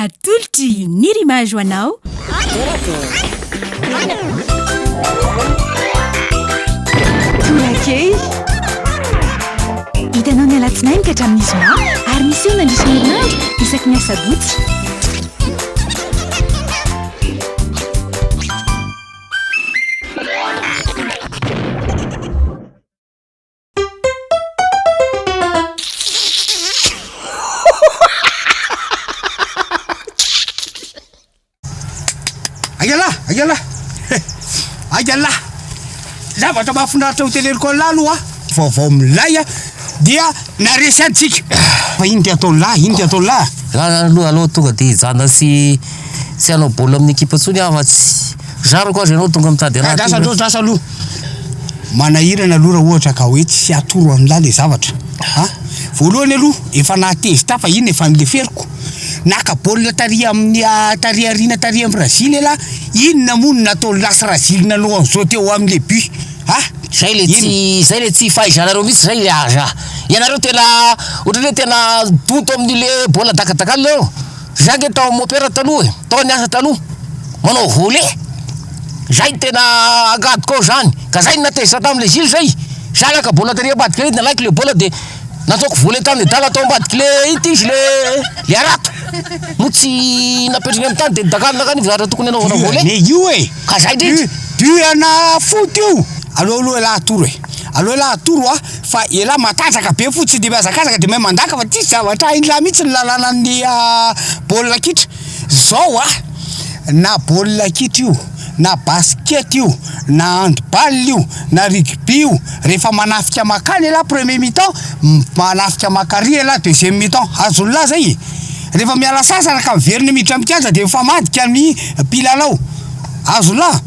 Atolotry Unir Image ho anao. Tolakely. Hitanao ny alatsinainy ka hatramin'ny zoma ary misy eo nandritra ny herinandro isaky ny asabotsy. zavatra mahafinaritra hoteleriko an'lah aloha vaovao milay a dia naresy antsika fa ino ty ataon'lah ino ty ataon'lah aloha aloha tonga de hijana sy tsy hanao baolina amin'ny ekipa ntsony aho fa tsy Zariko azy ianao tonga mitady raha tiana. Asa aloha, asa aloha. Manahirana aloha raha ohatra ka hoe tsy atoro an'lah le zavatra a! Voalohany aloha efa nahatezitra aho fa iny efa nileferiko. Naka baolina tary amin'ny tary aoriana tary an'i Brazil elah, inona moa no nataon'i Lasy Razily nanao an'izao teo amin'ny le but a! Zay le tsy, zay le tsy fahaizanareo mihitsy zay le aza. Ianareo tena ohatran'ny hoe tena donto amin'ny le baolina dakadakanina eo. Zah nge tao am opera taloha e, tao niasa taloha manao volet, zay no tena agadiko ao zany, ka zay no natezitra tam le juge zay, zah naka bola tary ambadika ery de nalaiko le bola de nataoko volet tam nedala tao ambadiky le ity izy le le harato moa tsy napetrany am tany de nidagadona akany izy ary tokony anaovana volet, Diane io e, ka zay ndrindra. Diana foty io, aleo aloha ialahy atoro e, aleo ialahy atoro a. Fa elah matanjaka be fo tsy de miazakazaka de mahay mandaka fa tsisy zavatra hainy lah mitsy ny lalanan'ny baolina kitra zao a na baolina kitra io na basket io na handball io na rugby io rehefa manafika makany elah premier mi-temps manafika makary elah deuxième mi-temps azony lah zay e rehefa miala sasatra ka miverina miditra mikianja de mifamadika ny mpilalao azony lah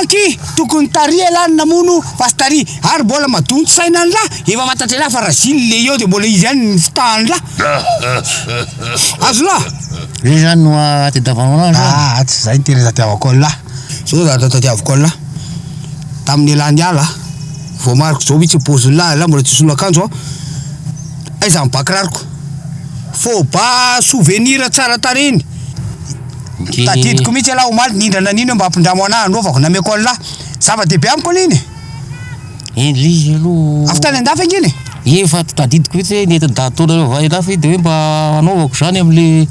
Donc tokony tary elah ny namono Pastary ary mbola madonto saina ny lah efa fantatry elah fa Razily le eo de mbola izy ihany ny fitahany lah Azo lah Zay zany no ahatediavanao anah zany? Aa tsy zay ny tena tadiavako an'i lah Zao ny zavatra tadiavako an'i lah Tamin'ny elah niala ah Voamariko zao mihitsy ny paozin'i lah Elah mbola tsy nisolo akanjo aho Aiza ny bakirariko Faux ba souvenir tsara tarehy ny Tadidiko mihitsy ialahy omaly nindra nanino hoe mba ampindramo anah androvako nameko anlah zava dehibe amiko aloha iny e Eny le izy aloha avy tany andafy ange iny e Eny fa tadidiko mihitsy hoe nety nidady taona reo avy any andafy de hoe mba anaovako zany am le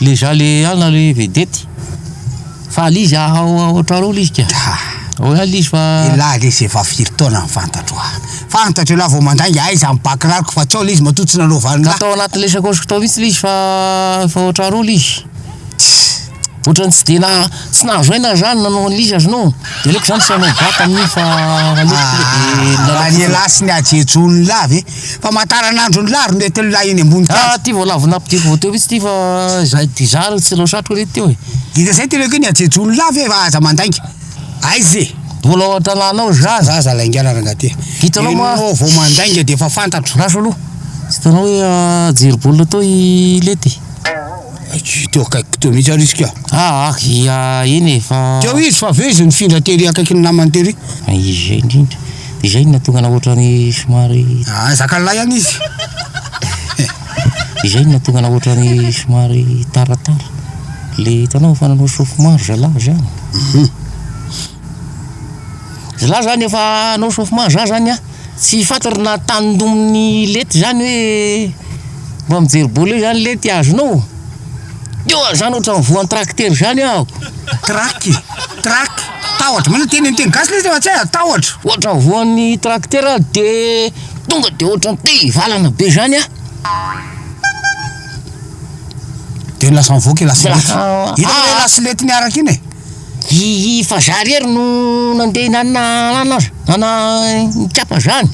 le za le any na le vedety fa le izy haha ohatrareo le izy ka Haa Oe any le izy fa Elah le ze vavy firy taona ny fantatro ah. Fantatra ialahy vao mandainga aiza ny bac rariko fa tsao le izy matoa tsy nanaova an'la. Ka tao anaty lesakoshiko tao mihitsy le izy fa efa ohatran roa le izy. Tss. Ohatran'ny tsy dia na tsy nahazo aina aho zany nanao an'le izy aza no. Dia aleoko zany tsy hanao bac amin'io fa aleoko tonga dia milalao. Raha ny elah sy ny hajejun'lah ve? Famantaran'andron'lah ry mety an'lah eny ambony tany. Ah ty vao lavo nampidiko vao teo mihitsy ty fa zay ty zara tsy ireo satriko re teo e. Dia zay tena hoe ny hajejun'lah ve fa aza mandainga. Aiza e? Mbola ao an-tanàna ao za. Za za laingana rangaty. Hitanao moa. Enao vao mandainga de efa fantatro. Raso aloha. Tsy hitanao hoe ah, jery baolina tao i Lety? Tsy teo akaikiko teo mihitsy ary izy ka. Ah ah, ia eny e, fa. Teo izy fa avy eo izy nifindra tery akaikin'ny namany tery. Ah, izay indrindra. Dia izay no nahatonga anao ohatrany somary. Ah, zakan'lahy ihany izy. Izay no nahatonga anao ohatrany somary taratara. Ilay hitanao fa nanao sofimaro zalahy izany. Zalahy izany efa hanao sofimaro za izany an, tsy fantatro na tanindomin'i lety izany hoe mba mijery baolina eo izany lety azonao. Teo aho izany ohatrany voan'ny tracteur izany aho. Track, track, tahotra. Manao teny teny gasy ilay izy fa tsy hay, tahotra. Ohatrany voan'ny tracteur aho dia. Tonga de ohatran'ny te hivalana be zany a. De lasa mivoaka i lasilety. Lasa- Hitanao ilay ah. lasilety niaraka iny e? I fa za rery no nandeha nanana anana azy, nana nikapa zany.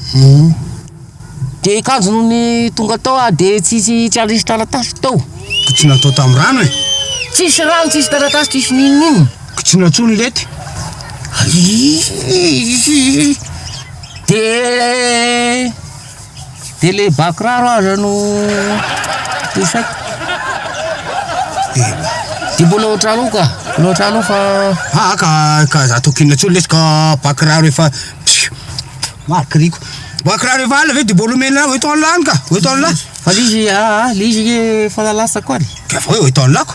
De kanjo no ny tonga tao ah de tsy tsy tsy anisy taratasy tao. Ko tsy natao tamin'ny rano e. Tsisy rano, tsisy taratasy, tsisy n'inon'inona. Ko tsy natsoa ny lety. Aii. De de le bakiraro aza no isaiko. Tena. Di mbola ohatry aloha ka, mbola ohatry aloha fa Ah ka ka za tokina tsony lesy ka bakiraro efa psiu marikiriko. Bakiraro efa alina ve de mbola omena hoe tao lany ka, hoe tao lany. Fa le izy ah le izy anie efa lalatsako any. Ka fa hoe hoe tao lako.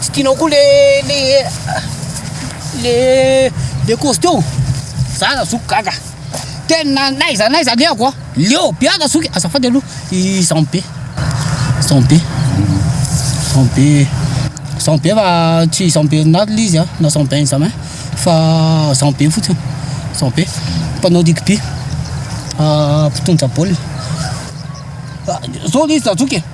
tsy tianao koa le le le le cause teo za na zoky gaga tena naiza naiza aleoko a leo be ana zoky azafady aloha izany be izany be izany be izany be fa tsy izany be na le izy a na izany be examen fa izany be fotsiny izany be mpanao rugby mpitondra baolina zao le izy na zoky e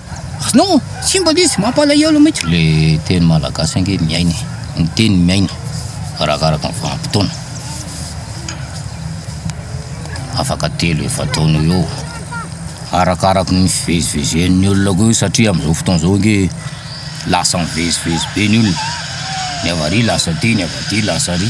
Non! Tsy mba nisy! Mampalahelo mihitsy! Le teny malagasy ange miaina e! Ny teny miaina arakaraka ny vanim-potoana. Afaka telo efa-taona eo eo. Arakaraky ny fivezivezen'ny olona koa io satria amin'izao fotoana izao ange lasa mivezivezy be ny olona. Ny avy ary lasa aty, ny avy aty lasa ary.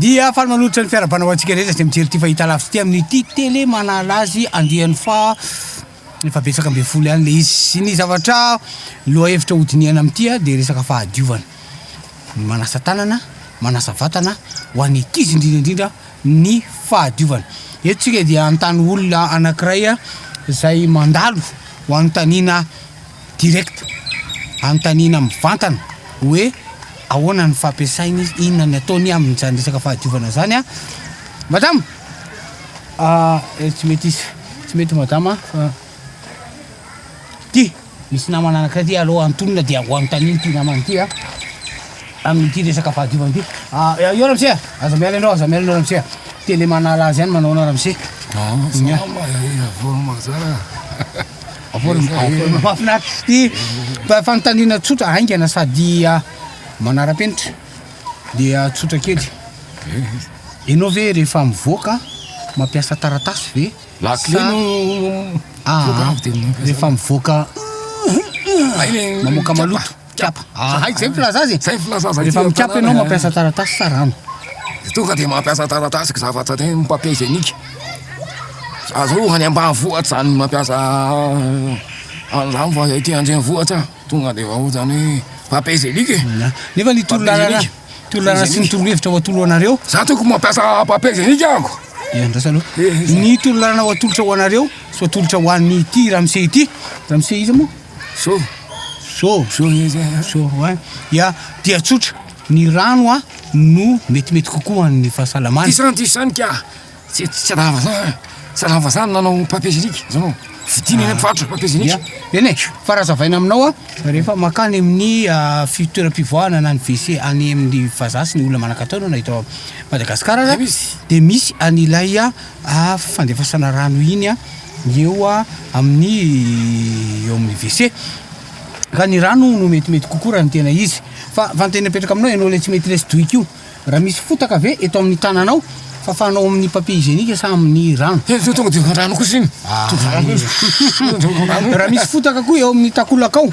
Dia faly manolotra ny fiarahabana ho antsika rehetra izay mijery ity fahita lavitra ity amin'ity tele manala azy andiany fa efa betsaka ambin'ny folo ihany le izy. Sy ny zavatra loha hevitra hodinihana amin'ity dia resaka fahadiovana. Ny manasa tanana, manasa vatana ho an'ny ankizy indrindra indrindra. ny fahadiovana. Eto tsika dia anontany olona anankiray izay mandalo ho anontaniana direct, anontaniana mivantana hoe ahoana ny fampiasainy izy, inona ny ataony amin'izany resaka fahadiovana izany. Madama, ah, eh, tsy mety izy, tsy mety madama. Ty, misy namana anankiray ty aleo antonina dia ho anontanio ity namana ity an. Amin'ity resaka fahadiovana ity. Ah, eh, eo ramose, aza miala ianao, aza miala ianao ramose. a. Tele manala azy ihany manaona ramose. Ah, Nya. Salama, eh, avory mazara. Avory Eza, avory eh. mahafinaritra sy ty fa- fanontaniana tsotra haingana sady ah, manara-penitra. Dia ah, tsotra kely. Ianao ve rehefa mivoaka mampiasa taratasy ve? Lakile no mivoaka avy dia mamoaka zay. Rehefa mivoaka mamoaka maloto. Mikapa. Aha, izay ny filazana azy e. Izay ny filazana azy. Rehefa mikapa ianao mampiasa taratasy sa rano? Dia tonga dia mampiasa taratasy zavatra dia ny papier hygiénique. Aza hoe ho any ambanivohitra izany mampiasa an'izany fa ety an-drenivohitra. Tonga de efa otrany hoe pape zelic e! Nefa ny torolalana, torolalana sy ny torohevitra ho atolo anareo. Za tokony mampiasa pape zelic ako. Dia andrasa aloha. Ny torolalana ho atolotra ho anareo sy ho atolotra ho an'ny ity ramose ity. Ramose iza moa? So. So. So izy. So wa. Ya, dia tsotra. Ny rano a no metimety kokoa ho an'ny fahasalamana. Disan-disanika. Tsy tsy tsy raha vazaha eh. Tsy raha vazaha ny nanao papier génique, zao no vidiana eny mpivarotra papier Ya, génique. eny e, fa raha hazavaina aminao an, rehefa mankany amin'ny ah, fi- toeram-pivoahana na ny WC any amin'ny vazaha sy ny olona manan-katao na eto Madagasikara aza, Aiza izy? dia misy an'ilay ah, ah, fandefasana rano iny an, ny eo ah, amin'ny eo amin'ny WC. Ka ny rano no metimety kokoa raha ny tena izy. Fa fa ny tena mipetraka aminao ianao ilay tsy mety lesy doika io. Raha misy fotaka ve eto amin'ny tananao fafanao amin'ny papier hygiénique sa amin'ny rano? He, zao tonga dia efa an-drano kosa iny. Ah, Tonga an-drano kosa. Tonga dia efa an-drano. Raha misy fotaka koa eo amin'ny takolakao,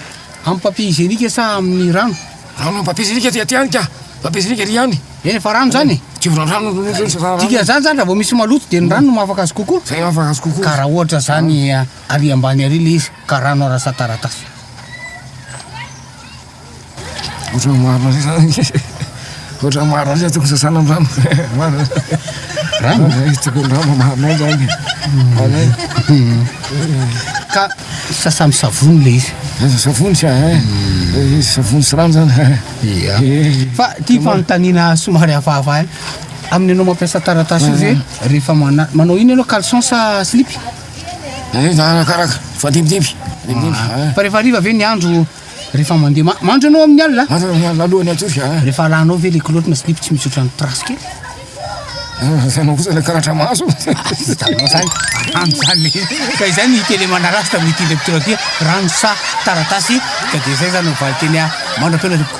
amin'ny papier hygiénique sa amin'ny rano? Rano amin'ny papier hygiénique aty aty ihany ka. Papier hygiénique ery ihany. Eny, efa rano izany e. Tsy ho rano no mety loatra fa rano. Dikan'izany izany raha vao misy maloto dia ny rano no mahafaka azy kokoa. Izay mahafaka azy kokoa. Ka raha ohatra izany, ary ambany ary ilay izy ka rano arasataratasy. Ohatran'ny maro an'izay zany e, ohatran'ny maro an'izay tokony sasana ny rano e, tokony rano mamarina eo zany e. Ka sasa amin'ny savony le izy. Aza savony sa e, izy savony sy rano zany. Ia, fa ity fanontaniana somary hafahafa ihany, amin'ny anao mampiasa taratasy io ve rehefa mana- manao ino ianao caleçon sa slip? Arakaraka, mifandimbidimby, mifandimbidimby. Fa rehefa hariva ve ny andro? Rehefa mandeha ma- mandry ianao amin'ny alina? Mandry amin'ny alina alohan'ny hatory a. Rehefa alanao ve ilay kilaoty na slip tsy misy ohatran'ny trace kely? Hitanao kosa ilay karatra maso. Hitanao izany, rano izany le. Ka izay no hita eny Manarazy tamin'ny ity leptira ity, rano sa taratasy? Ka dia izay izany no valin-teny mandra-pihaona tompoko.